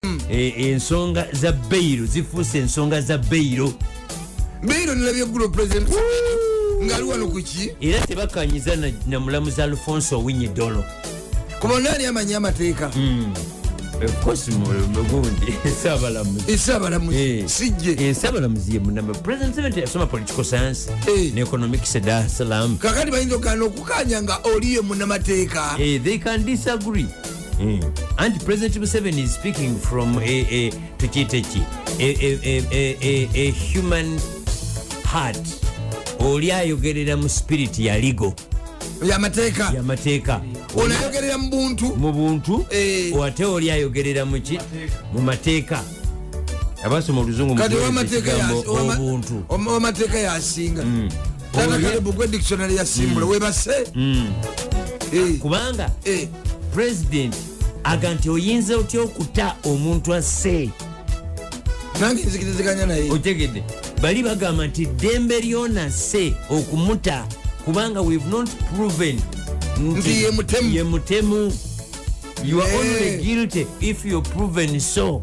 mm. e, ensonga za beiro zifuuse ensonga za beiro beiro nilabye gulo president ngaali wano kuki era tebakanyiza na, na mulamuzi alfonso owinyi dolo kuba naani amanyi amateeka mm. kakati bayinza okugana okukanya nga oliyo munamateeka eh, mm. anti president museveni is speaking from tukiteki a human heart oli ayogerera mu spirit ya ligo yamateeka yamateeka olayogerera mu buntu mu buntu eh. ate oli ayogerera muki mu mateeka abasoma oluzungu obuntu amateeka yasinga mm. kubanga president aga nti oyinza otya okuta omuntu asse nange nzikiriziganya naye otegedde bali bagamba nti ddembe lyona se okumuta kubanga we've not proven nti ye mutemu you are only guilty if you're proven so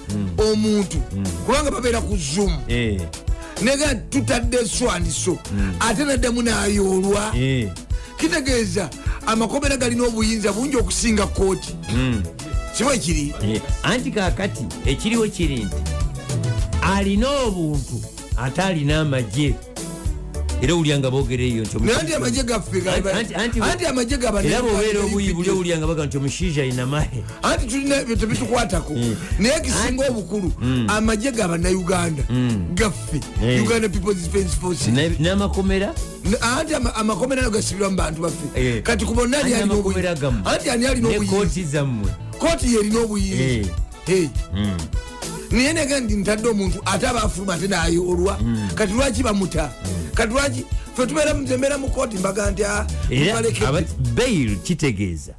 hmm. omuntu hmm. kubanga babeera ku zoom eh. nega tutadde eswandiso hmm. ate naddamu nayoolwa eh. kitegeeza amakomera galina obuyinza bungi okusinga kooti kiba ekiri eh. anti kakati ekiriwo kiri nti alina obuntu ate alina amagye era owulya nga bogera eyo ntianti amagye gafeanti amagye gabaera bobeera obuyi buli owulya nga baga nti omushiija ayina mahe anti tulina ebyo tebitukwatako mm. naye ekisinga obukulu mm. amagye gabanauganda mm. gaffe uganda peoples defense force n'amakomera anti amakomera nago gasibirwa mu bantu baffe eh. kati kubonna ani alina obuyi anti ani alina obuyi kooti yerina obuyinza eh. hmm. naye nega ndi ntadde omuntu ate aba afuluma ate nayoolwa hmm. kati lwaki bamuta hmm. kati lwaki fe tubeera mutembeera mu kooti mbaga nti ah, bail kitegeeza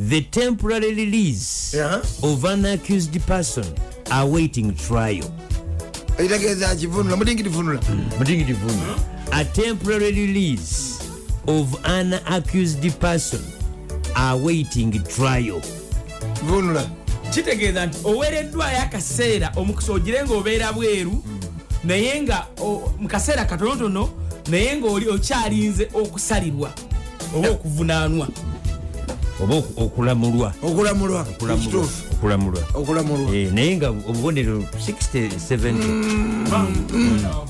the temporary release uh -huh. of an accused person awaiting trial ekitegeeza akivunula mutingidivunula mutingidivunula a temporary release of an accused person awaiting trial vunula kitegeeza nti oweereddwayo akaseera omukisa ogire nga obeera bweru naye nga mu kaseera katonotono naye ngaoli okyalinze okusalirwa oba okuvunanwa oba okulamulwa okulamulwa okulamulwa okulamulwa eh, naye nga obubonerero 67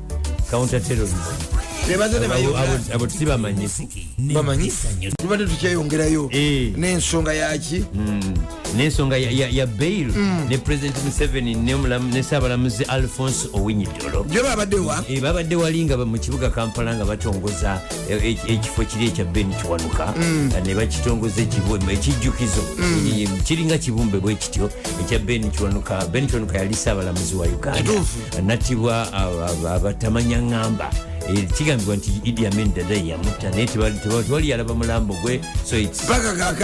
counter terrorism abo sibamanyi bamanyi tubadde tukyeyongerayo eh. nensonga yaki hmm. nensonga ya bail hmm. ne president museveni ne sabalamuzi alfonse owinyidolo eh, babadde wali nga mu kibuga kampala nga batongoza eh, ekifo kiri ekya ben kiwanuka hmm. ne bakitongoza ekijjukizo kiringa kibumbe bwekityo ekya ben kiwanuka ben kiwanuka yali sabalamuzi wa uganda natibwa abatamanya ngamba eh, kigambibwa nti idi amin dada yamutta naye tewali yalaba mulambo gwe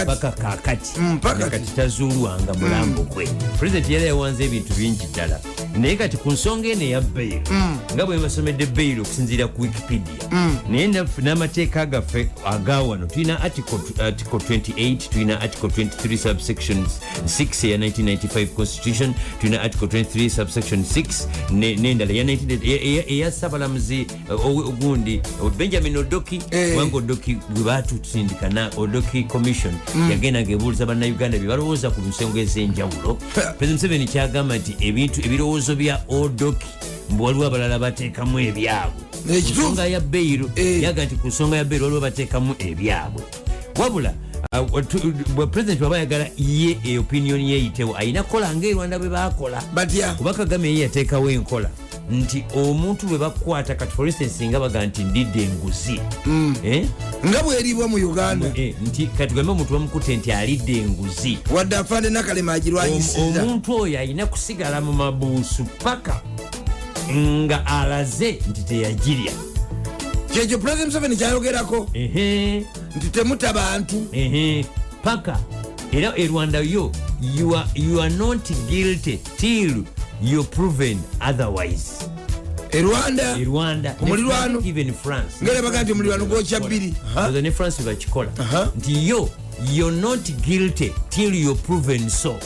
paka kakati mm, kati tazuulwanga mulambo mm. gwe pulezidenti yali yawanze ebintu bingi ddala naye kati ku nsonga eno eya bail mm. nga bwebasomedde bail okusinziira ku wikipedia mm. naye n'amateeka gaffe agawano tulina article 28 uh, tulina article 23 subsections 6 eya 1995 constitution tulina article 23 subsection 6 nendala eya sabalamuzi uh, ogundi uh, benjamin odoki eh. kubanga odoki gwebatusindika na odoki commission mm. yagenda ngebuuliza bannauganda byebalowooza ku nsonga ez'enjawulo president museveni kyagamba nti ebintu ebirowoozo bya odoki mbu waliwo abalala bateekamu ebyabwe nsonga ya beyiro eh. yaga nti ku nsonga ya beyiro waliwo bateekamu ebyabwe wabula uh, bwe president waba ayagala ye e opinion yeyitewo alina kukola nga erwanda bwe bakola kuba kagame ye yateekawo enkola nti omuntu bwe bakwata kati for instance nga baga nti ndidde enguzi mm. eh? nga bweribwa mu uganda eh, nti kati gambe omuntu bamukute nti alidde enguzi wadde afaane nakalema agirwanyisiza omuntu oyo alina kusigala mu mabuusu paka nga alaze nti teyagirya kyekyo president museveni kyayogerako nti temuta bantu paka era e rwanda yo you are, you are not guilty till you proven otherwise e rwanda e rwanda omulirwano even france ngere baga nti omulirwano gwokya bbiri ozo ne france bakikola nti yo you're not guilty till you proven so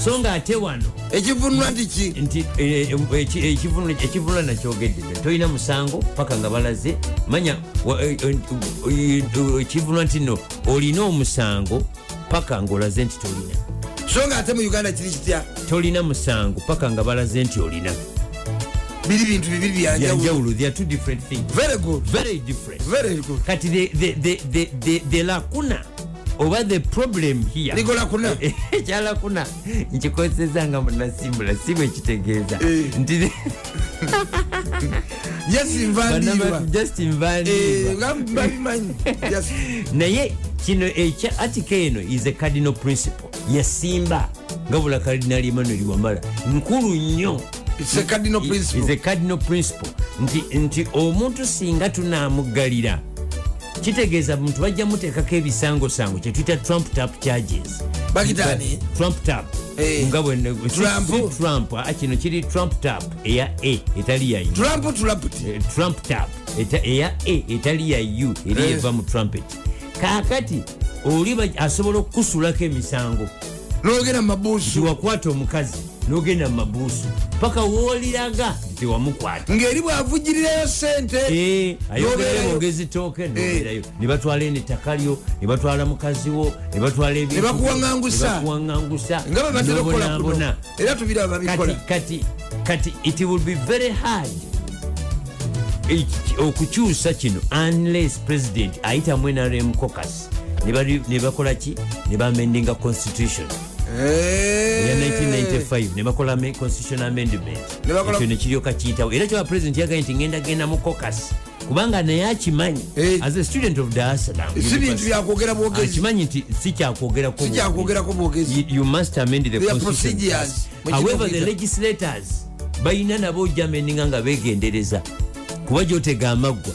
so nga ate wano ekivunula tiki nti eh, eh, ekivunula nakyogedde tolina musango paka nga balaze manya eh, ekivunula nti no olina omusango paka ngaolaze nti tolina so nga ate mu uganda kiri kitya tolina musango paka nga balaze nti olina biri bintu bibiri byanjawulo they are two different things very good very different very good kati the, the, the, the, the, the lakuna oba the problem here ligola kuna eh, eh, chala kuna nkikozeza nga munasimbula simu ekitegeeza eh. nti naye kino ekya atika eno is a cardinal principle yasimba nga bula cardinal emmanuel wamala nkulu nnyo cardinal principle nti omuntu singa tunamuggalira kitegeeza muntu bajja muteekako ebisangosango kyetuyita trump tap charges trump tap eh, nga trump ah, kino kiri trump tap eya a etali ya eh, trump tap eya a etali ya u eri eh. eva mu trumpet kakati oli asobola okukusulako emisango nogenda mumabuusu wakwata omukazi nogenda mumabuusu paka woliraga tewamukwata ngaeri bwavugirirayo sente eh, ayogezi toke noberayo eh. nebatwala eno ettaka lyo nebatwala mukazi wo nebatwala ebikuwangangusa nga bebatera okukola kuno era tubira babikola kati kati it will be very hard okukyusa kino unless president ayitamu nrm cocus nebakola ki nebamendinga constitution eya 1995 nebakola constitution amendment ekyo nekiryoka kiyitawo era kyoba president yagaye nti ngenda genda mu cocas kubanga naye akimanyi eh. as a student of dar es salaam si bintu byakwogera bwogezi akimanyi nti si kyakwogerako si kyakwogerako bwogezi you must amend the constitution however the legislators balina nabo ojameninga nga begendereza kuba gyotega amaggwa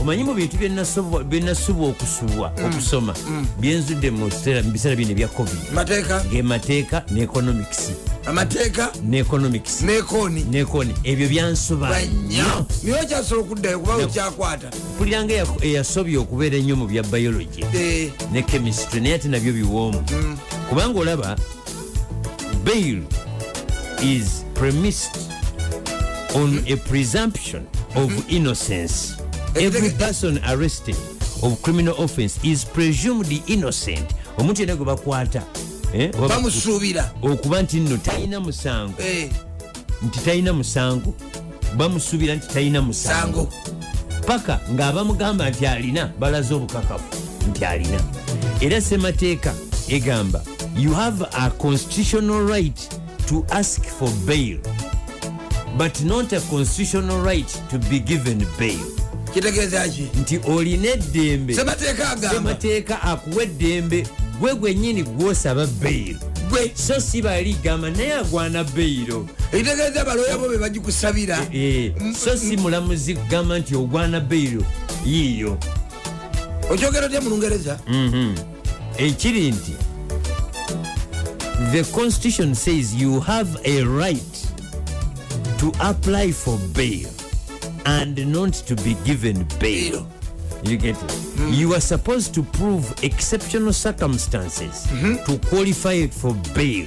omanyi mu bintu byenasubwa okusubwa mm. okusoma mm. byenzudde mu biseera bino ebya covid ge mateeka ne economics amateeka ne economics nekoni nekoni ebyo byansuba nyo naye okyasobola okuddayo kuba okyakwata mpuliranga eyasobye okubeera ennyo mu bya biology eh. ne chemistry naye ate nabyo biwoomu mm. kubanga olaba bail is premised on a presumption of mm-hmm. innocence every person arrested of criminal offense is presumed innocent omuntu yena gwe bakwata eh, bamusuubira okuba nti nno talina musango eh. nti talina musango bamusubira nti talina musango paka ng'abamugamba nti alina balaze obukakafu nti alina era semateeka egamba you have a constitutional right to ask for bail but not a constitutional right to be given bail kitegeezaki nti olina eddembe semateeka akuwa eddembe gwe gwenyini gwosaba bail gwe so si bali gamba naye agwana bailo ekitegeeza baloya bo bebagikusabira eh, eh, so si mulamuzi kugamba nti ogwana beiro yiiyo okyogera otya mulungereza mhm. ekiri nti the constitution says you have a right to apply for bail and not to be given bail you get it mm. you are supposed to prove exceptional circumstances mm -hmm. to qualify it for bail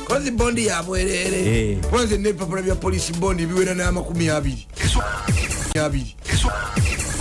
kozi bondi yabwerere eh. kozi nebipapula bya polisi bondi biwera n'amakumi abiri abiri